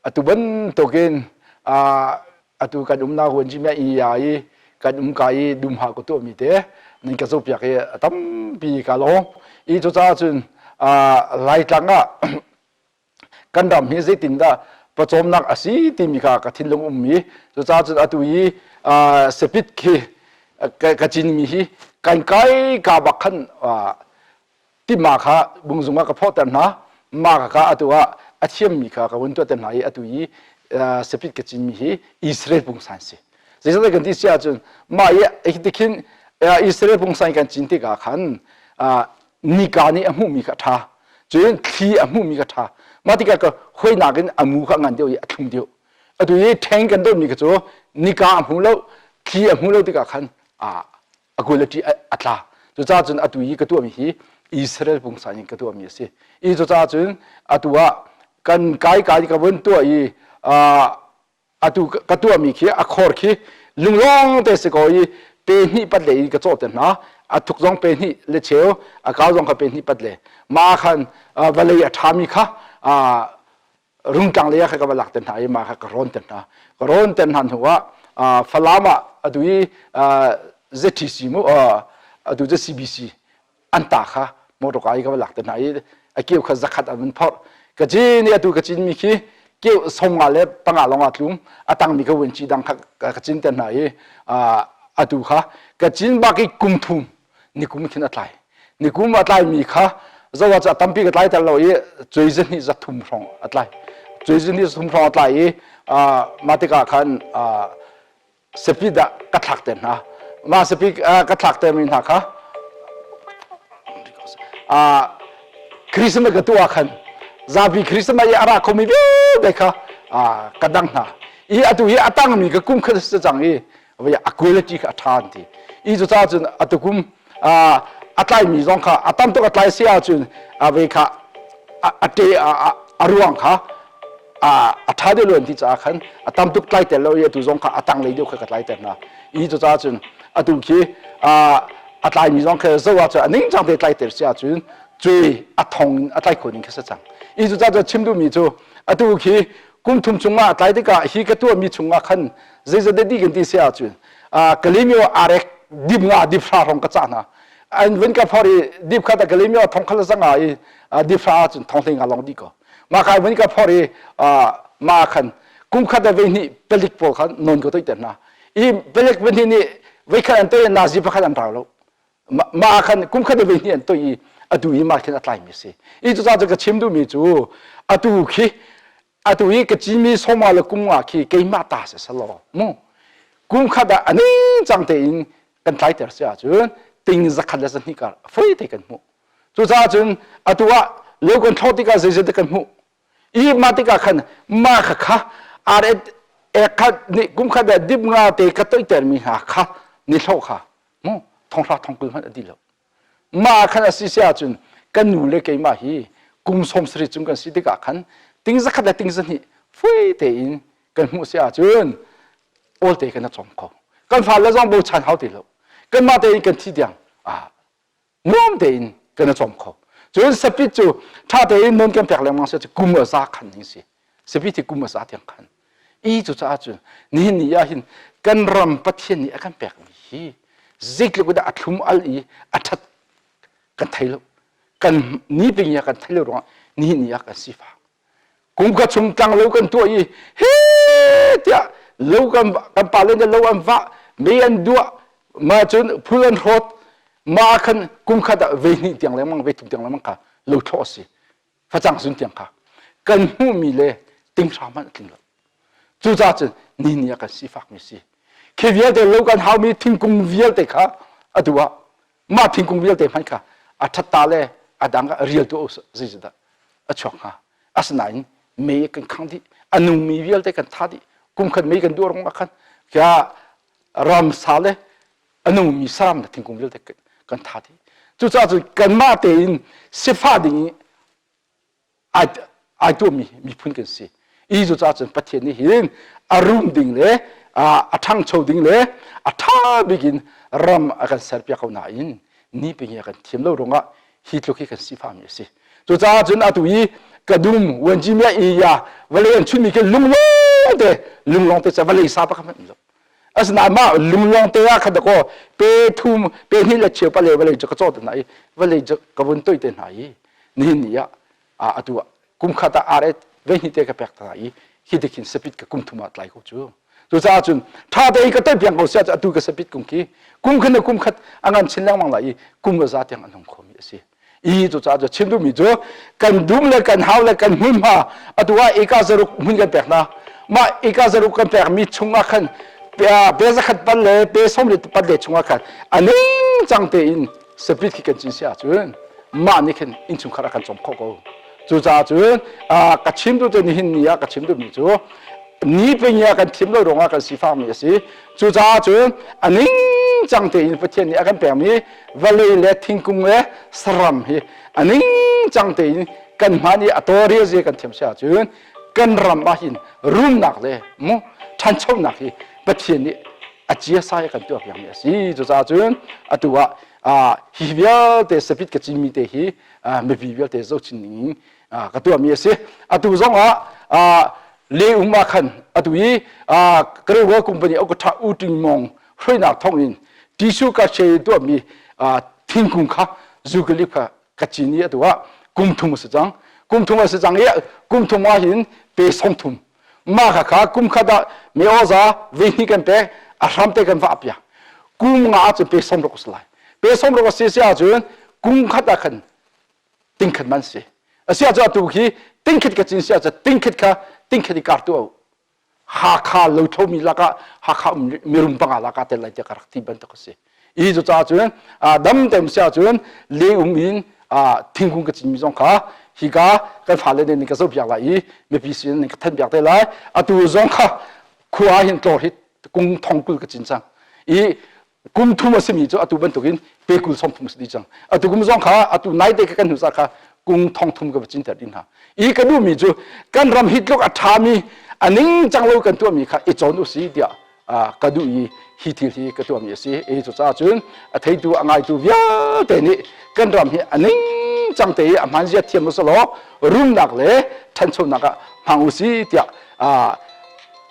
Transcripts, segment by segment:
Atu bantukin atu kan umnak huan cim ah ii aa i kan umka i dumha ka tuahmi te nan ka zohpiak i a tampi ka lawng. Ii cucaah cun Laitlang ah kan ram hi zeitindah pawcawmnak a si timi kha ka thinlung ummi cucaahcun atu i sepit khi ka cinmi hi kan kai ka bak khan timma kha bungzung ah ka phawhter hna mah ka atu ah a thiammi kha ka vun tuahter hna i atu i sepit ka cinmi hi Israel pungsan si zeicah kan ti si ahcun mah i tikhin Israel pungsan kan cin tikah khan nika nih a hmuhmi kha ṭha cun thli a hmuhmi kha ṭha mah tikah ka hoinak in a mu kha a ngan deuh i a thlum deuh atu i ṭheng kan donmi kha cu nika a hmu lo thli a hmu lo tikah khan a kul a ṭih a tla cucaah cun atu i ka tuahmi hi Israel pungsa in ka tuahmi a si i cucaah cun atu ah kan kai kai ka vun tuah i atu ka tuahmi khi a khor khi lunglawng te si ko i pe hnih pat le i ka cawh te hna a thuk zong pe hnih le cheu a kau zong kha pe hnih pat le ma khan vawlei a ṭhami kha rungtang lei ah kha ka va lak te hna i ma kha ka rawn te hna ka rawn te hna hnu ah Falam ah atu i ZTC mu atu CBC an ta kha motor ka i ka lak te hna i a keu kha zakhat an phorh ka cin atu ka cin mi khi keu songa le panga longa tlum a tang mi ka wen chi dang kha ka cin te hna i atu kha ka cin bak i kum thum nikum khin a tlai nikum a tlai mi kha zawa cha tampi ka tlai tel lo i cui zin hi za thum hrong a tlai cui zin hi za thum hrong a tlai i ma tikah khan sapi dah ka thlak te hna mah sapi ka thlak te mi hna kha Christmas ka tu ah khan zabi Christmas i a ra khomi vialte kha ka dang hna i atu hi a tangmi ka kum kha sa cang i a quality kha a tha an ti i cucaah cun atu kum a tlaimi zong kha a tam tuk a tlai si ahcun a ve kha a te a ruang kha a ṭha deuh lo an ti caah khan a tam tuk tlai tel lo i atu zong kha a tanglei deuh kha ka tlai tel hna i cucaah cun atu khi a tlaimi zong kha zoh ahcun a ningcang te tlai tel si ahcun cui a thong a tlai khon in kha sa cang i cucaah cun chim duhmi cu atu khi kum thum chungah a tlai tikah hi ka tuahmi chungah khan zeizat deh kan ti si ahcun kalimyo arek dip nga dip hra rong ka cah hna an vin ka phor i dip kha ta kalimyo thong khal sanga i dip hra cun thong thing a long di ko ma khai vin ka phor i ma khan kum khat da ve ni pelik po khan non ko toi te na i pelik vin ni ve khan an toy na zi pakhat an rau lo ma khan kum khat da ve ni an toy i atu i ma khin atlai mi si i chu ca ka chim du mi chu atu khi atu i ka cimi soma le kum nga khi keimah ta si selaw mu kum khat ah aning cang tein kan tlai ter si ahcun ting zakhat le zahnih kar fei te kan hmuh cucaah cun atu ah leu kan thlo tikah zeizat kan hmuh i ma tikah khan ma kha kha ar ek khat ni kum khat ah dip nga te ka toiter mi hna kha ni thlo kha mu thong hra thong kul hmanh a di lo mah ah khan a si si ahcun kan nu le keimah hi kum sawm sarih cung kan si tikah khan ting zakhat le ting zahnih fui tein kan hmuh si ahcun awlte kan rak cawng kho kan fale zong bochan hau ti lo kanmah tein kan thi tiang ah nuam tein kan i cawm kho cun sapit cu ṭha tein nun kan pek lengmang si cu kum a za khan ding si sabi ti kum a sa tiang khan i cu caah cun nihin ni ah hin kan ram pathian nih a kan pekmi hi zeitluk dah a thlum al i a that kan thei lo kan ni ping ya kan thei lo ruang nihin ni ah kan sifa kum ka chung tlang lo kan tuah i he tiah lo kan kan pa le lo an va me an dua ma cun phul an hrawt ma khan kum khat ah vei ni tiang le mang vei tum tiang le mang kha lo thlaw si facang zun tiang kha kan hmuhmi le tinghra hmanh a tling lo cucaah cun ni ni ah kan sifakmi si khi vialte lo kan haumi thingkung vialte kha atu ah mah thingkung vialte hmanh kha a thatta le a dang rial tu zeizadah a chuak hnga asinain me kan khang dih a nungmi vialte kan tha dih kum khan me kan duh rong ah khan kya ramsa le a nungmi saram le thingkung vialte kan that hi cucaah cu kanmah tein sifah ding i ai tuahmi miphun kan si i cucaah cun pathian nih hin a rum ding le a ṭhangcho ding le a ṭha bik in ram a kan serpiak ko nain ni pingi a kan thiam lo ruangah hi tluk hi kan sifahmi a si cucaah cun atu i ka dum wanjimiah iya vale an chunmi ke lunglawng te lunglawng te ca vale sa pa kha hmanh asinain mah lunglawng te ah kha dakaw pe thum pe hnih le cheu pale vale cu ka cawh te hna i vale cu ka vun toih te hna i nihin ni ah atu ah kum khat ah are ve hnih te ka pek hna i hi tikhin sapit ka kum thum ah tlai ko cu cucaah cun ṭha te i ka toih piang ko sia cu atu ka sapit kum khi kum khat ne kum khat a ngan chin lengmang lai i kum va za tiang an hung khomi a si i cucaah cu chim duhmi cu kan dum le kan hau le kan hmunhma atu ah eka zaruk hmun kan pek hna mah eka zaruk kan pekmi chungah khan pe zakhat pal le pe sawm le pat le chungah khan a ningcang tein spirit khi kan cin si ahcun mah nih khin innchungkhar ah kan cawm khawh ko cucaah cun ka chim tu te nihin ni ah ka chim duhmi cu ni pengia kan thim lo ruangah kan sifakmi a si cucaah cun a ningcang tein pathian nih a kan pekmi vale le thingkung le saram hi a ningcang tein kan hman i a toria ze kan thiam si ahcun kan ram ah hin rumnak le mu ṭhanchonak hi Pathian nih a cia sa kan tuah piakmi a si cucaah cun atu ah hi vialte sapit ka cimmi te hi mipi vialte zohchin ding ka tuahmi a si atu zongah le um ah khan atu i Korea company Okata Uting Mong hruainak thawngin tissue ka she tuahmi thingkung kha zukalip kha ka cin i atu ah kum thum a si cang kum thum a si cang i kum thum ah hin pe song thum mah kha kha kum khat ah me oza ve ni kan pe a hram te kan va pia kum nga cu pe som rok si lai pe som rok si si ahcun kum khat ah khan ting khat man si a si ahcun atu khi ting khat ka cin si ahcun ting khat kha ting khat i kar tu Hakha lochomi lakah Hakha mirum panga lakah tel lai tiah ka rak ti bantuk a si. Hi cu caah cun dam tem si ahcun lengum in thingkung ka cinmi zong kha hika kan fale nih ka zohpiak lai i mipi sin nih ka thanpiak te lai atu zong kha khua hin tlawr hi kung thong kul ka cin cang i kum thum a simi cu atu bantukin pe kul som thum a si dih cang atu kum zong kha atu nai te kan hnu sa kha kum thong thum ka va cinter din hna i ka duhmi cu kan ram hi tluk a ṭhami a ningcang lo kan tuahmi kha i cawn u si tiah ka duh i hi thil hi ka tuahmi a si e cucaah cun a theitu a ngaitu vialte nih kan ram hi a ningcang te i a hman zia thiam usalaw rumnak le ṭhanchonak ah hmang u si tiah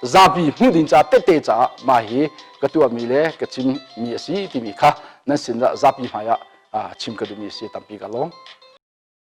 zapi hmuh ding caah tehte caah mah hi ka tuahmi le ka chimmi a si timi kha nan sinah zapi hmaiah chim ka duhmi a si tampi ka lawm.